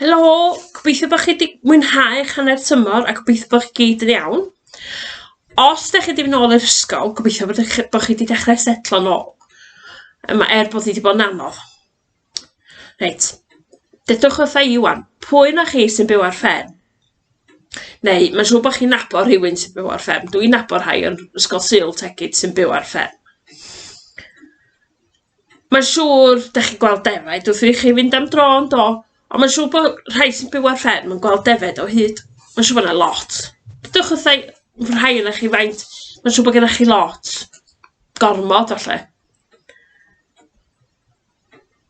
Helo, gobeithio bod chi wedi mwynhau eich hanner tymor a gobeithio bod chi gyd yn iawn. Os ydych chi wedi mynd nôl i'r ysgol, gobeithio bod, chi, bod chi wedi dechrau setlo nôl. Yma, er bod hi wedi bod yn anodd. Reit, dedwch wrtha i wan, pwy na chi sy'n byw ar fferm? Neu, mae'n siŵr bod chi'n nabod rhywun sy'n byw ar fferm. Dwi'n nabod rhai yn ysgol Sul Tegid sy'n byw ar fferm. Mae'n siŵr, dach chi'n gweld defaid wrth i chi fynd am dro, yn do? Ond mae'n siŵr bod rhai sy'n byw ar fferm yn gweld defaid o hyd. Mae'n siŵr bod yna lot. Dydwch wrtha i rhai ohonoch chi faint mae'n siŵr bod gennych chi lot. Gormod, falle.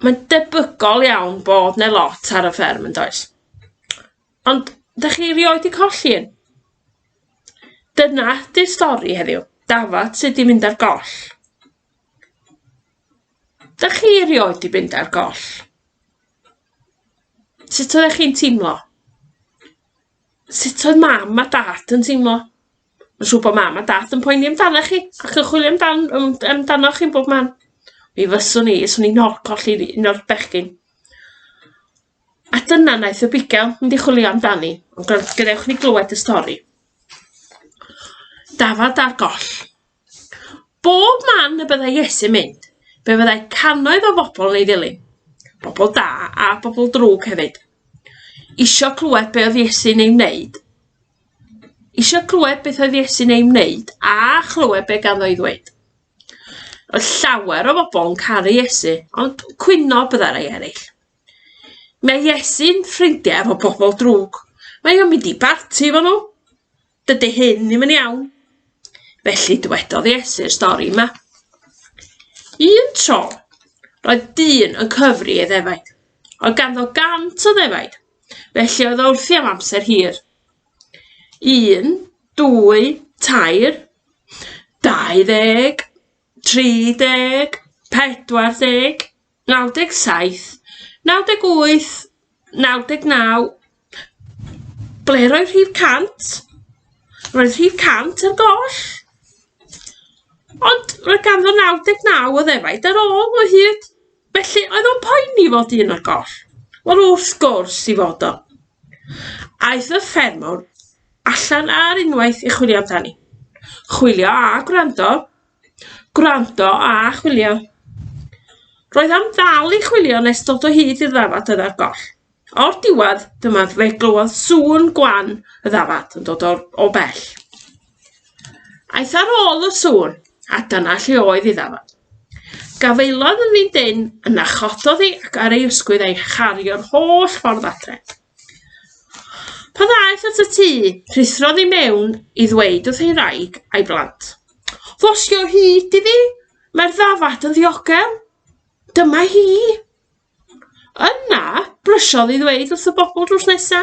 Mae'n debygol iawn bod 'na lot ar y fferm, yn does? Ond dach chi erioed 'di colli un? Dyna 'di'r stori heddiw. Dafad sy 'di mynd ar goll. Dach chi erioed 'di mynd ar goll? Sut oeddech chi'n teimlo? Sut oedd mam a dad yn teimlo? Mae'n siŵr bod mam a dad yn poeni amdanoch chi ac yn chwilio amdan yym amdanoch chi'n bob man. Mi fyswn i, 'swn i'n hor colli fi un o'r bechgyn. A dyna wnaeth y bugail mynd i chwilio amdani, ond gadewch i ni glywed y stori. Dafad ar goll. Bob man y byddai Iesu'n mynd, fe fyddai cannoedd o bobl yn ei ddilyn, bobl da a bobl drwg hefyd. Isio clywed be oedd Iesu'n ei wneud, isio clywed beth oedd Iesu'n ei wneud a chlywed be ganddo ei ddweud. Oedd llawer o bobl yn caru Iesu, ond cwyno byddai rhai eraill. Mae Iesu'n ffrindiau efo bobl drwg. Mae o'n mynd i barti efo nhw. Dydy hyn ddim yn iawn. Felly dywedodd Iesu'r stori yma. Un tro, roedd dyn yn cyfri ei ddefaid. Oedd ganddo gant o ddefaid, felly oedd o wrthi am amser hir. Un, dwy, tair, dau ddeg, tri deg, pedwar deg, 97, 98, 99, ble roedd rhif 100? Roedd rhif 100 ar goll. Ond roedd ganddo 99 o ddefaid ar ôl o hyd. Felly oedd o'n poeni fod un ar goll. Wel wrth gwrs i fod o. Aeth y ffermwr allan ar unwaith i chwilio amdani. Chwilio a gwrando Gwrando a chwilio. Roedd am ddal i chwilio nes dod o hyd i'r ddafad oedd ar goll. O'r diwedd, dyma fe glywodd sŵn gwan y ddafad yn dod o'r, o bell. Aeth ar ôl y sŵn, a dyna lle oedd ei ddafad. Gafaelodd yn fynd yn, yna chododd ei ac ar ei ysgwydd a'i chario'r holl ffordd adre. Pan ddaeth at y tŷ, rhuthrodd i mewn i ddweud wrth ei wraig a'i blant, Ddosgi o hyd i fi, mae'r ddafad yn ddiogel. Dyma hi. Yna, brysiodd i ddweud wrth y bobl drws nesa,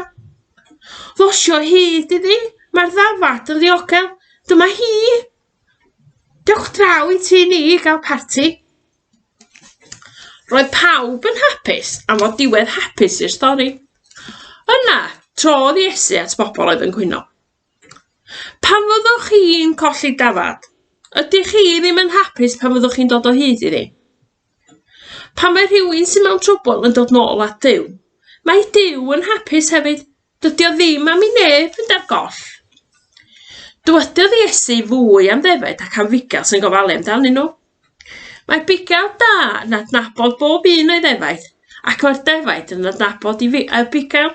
Ddosgi o hyd i fi, mae'r ddafad yn ddiogel. Dyma hi. Dewch draw i ti ni i gael parti. Roedd pawb yn hapus am fod diwedd hapus i'r stori. Yna, trodd Iesu at bobl oedd yn cwyno. Pan fyddwch chi'n colli dafad, ydych chi ddim yn hapus pan fyddwch chi'n dod o hyd iddi? Pan mae rhywun sy'n mewn trwbl yn dod nôl at Dyw, mae Dyw yn hapus hefyd. Dydy o ddim am i neb fynd ar goll. Dywedodd Iesu fwy am ddefaid ac am fugail sy'n gofalu amdanyn nhw. Mae bugail da yn adnabod bob un o'i ddefaid, ac mae'r defaid yn adnabod i fi, y bugail.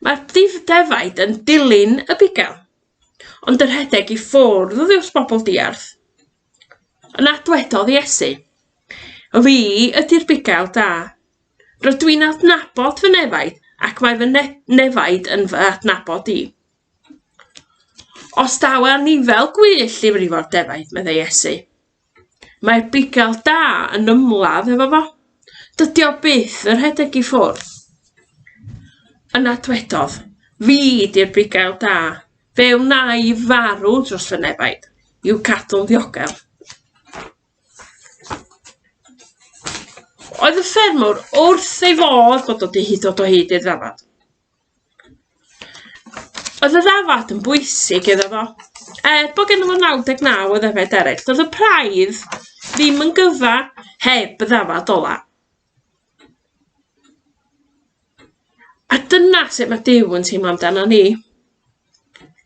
Mae'r defaid yn dilyn y bugail, ond yn rhedeg i ffwrdd wrth bobl diarth. Yna dwedodd Iesu, Fi ydy'r bugail da. Rydw i'n adnabod fy nefaid, ac mae fy ne nefaid yn fy adnabod i. Os daw anifail gwyllt i frifo'r defaid, meddai Iesu, mae'r bugail da yn ymladd efo fo. Dydy o byth yn rhedeg i ffwrdd. Yna dwedodd, Fi di'r bugail da. Fe wnai farw dros fy nefaid, i'w cadw'n ddiogel. Oedd y ffermwr wrth ei fodd bod wedi hyd o hyd i'r ddafad. Oedd y ddafad yn bwysig iddo fo. Er bod gen fo 99 o ddefaid eraill, doedd y praidd ddim yn gyfa heb y ddafad ola. A dyna sut mae Duw yn teimlo amdano ni.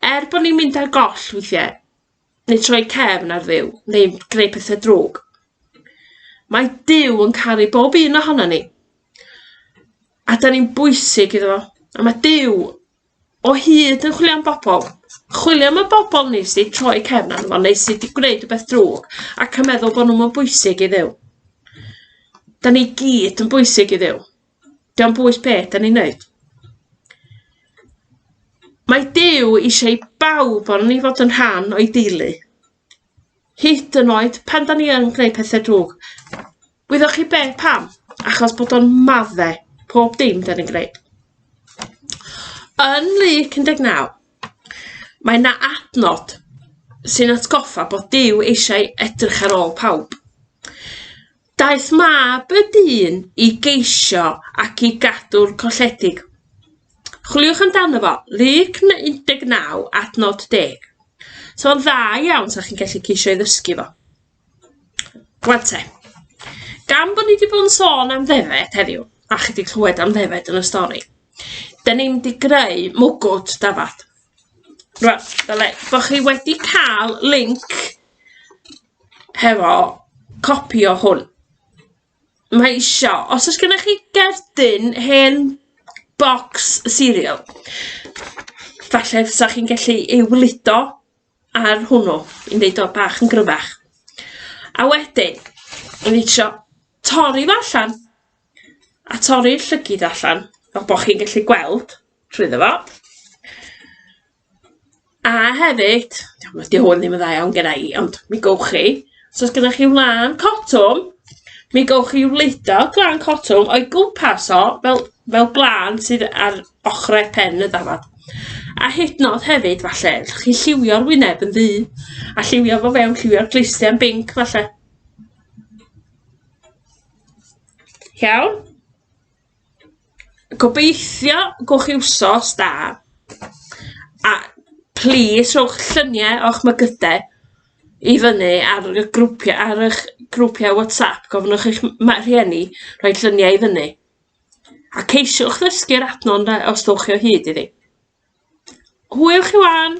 Er bod ni'n mynd ar goll weithiau, neu troi cefn ar Dduw, neu gwneud pethau drwg, mae Duw yn caru bob un ohono ni. A da ni'n bwysig iddo fo. A mae Duw O hyd yn chwilio am bobl. Chwilio am y bobl ni sydd 'di troi cefn arno fo neu sydd 'di gwneud rhywbeth drwg ac yn meddwl bod nhw'm yn bwysig i Dduw. Da ni gyd yn bwysig i Dduw. Dio'n bwys be' da ni'n neud. Mae Duw eisiau i bawb o'n ni fod yn rhan o'i deulu. hyd yn oed pan da ni yn gwneud pethe drwg. Wyddoch chi be? Pam? Achos bod o'n madde pob dim da ni'n gwneud. Yn Luc 19, mae yna adnod sy'n atgoffa bod Dyw eisiau edrych ar ôl pawb. Daeth mab y dyn i geisio ac i gadw'r colledig. Chwiliwch amdano fo, Luc 19 adnod 10. So fo'n dda iawn sa chi'n gallu ceisio i ddysgu fo. Rwan te, gan bod ni wedi bod yn sôn am ddefed heddiw, a chi wedi clywed am ddefed yn y stori, da ni'n mynd i greu mwgwd dafad. Rwan, dyle, bod chi wedi cael link hefo copi o hwn. Mae isio, os oes gennych chi gerdyn hen bocs cereal, falle 'sa chi'n gallu ei wlido ar hwnnw i wneud o bach yn gryfach. A wedyn, o'n i isio torri fo allan, a torri'r llygid allan, fel bod chi'n gallu gweld trwyddo fo. A hefyd, diolch, 'di hwn ddim yn dda iawn gynna i, ond mi gowch chi, os o's gynnoch chi wlân cotwm, mi gowch chi wleido gwlân cotwm o'i gwmpas o, fel fel gwlân sydd ar ochrau pen y dafad. A hyd yn o'd hefyd falle, allwch chi lliwio'r wyneb yn ddu, a lliwio fo fewn, lliwio'r clustiau'n binc falle. Iawn? Gobeithio gwch chi wsos da. A plîs rhowch llynie o'ch mygyde i fyny ar y grwpia ar ych grwpia WhatsApp gofynnwch i'ch m- ma- rhieni rhoi llynie i fyny. A ceisiwch ddysgu'r adno'n dda os dowch chi o hyd iddi. Hwyl chi ŵan.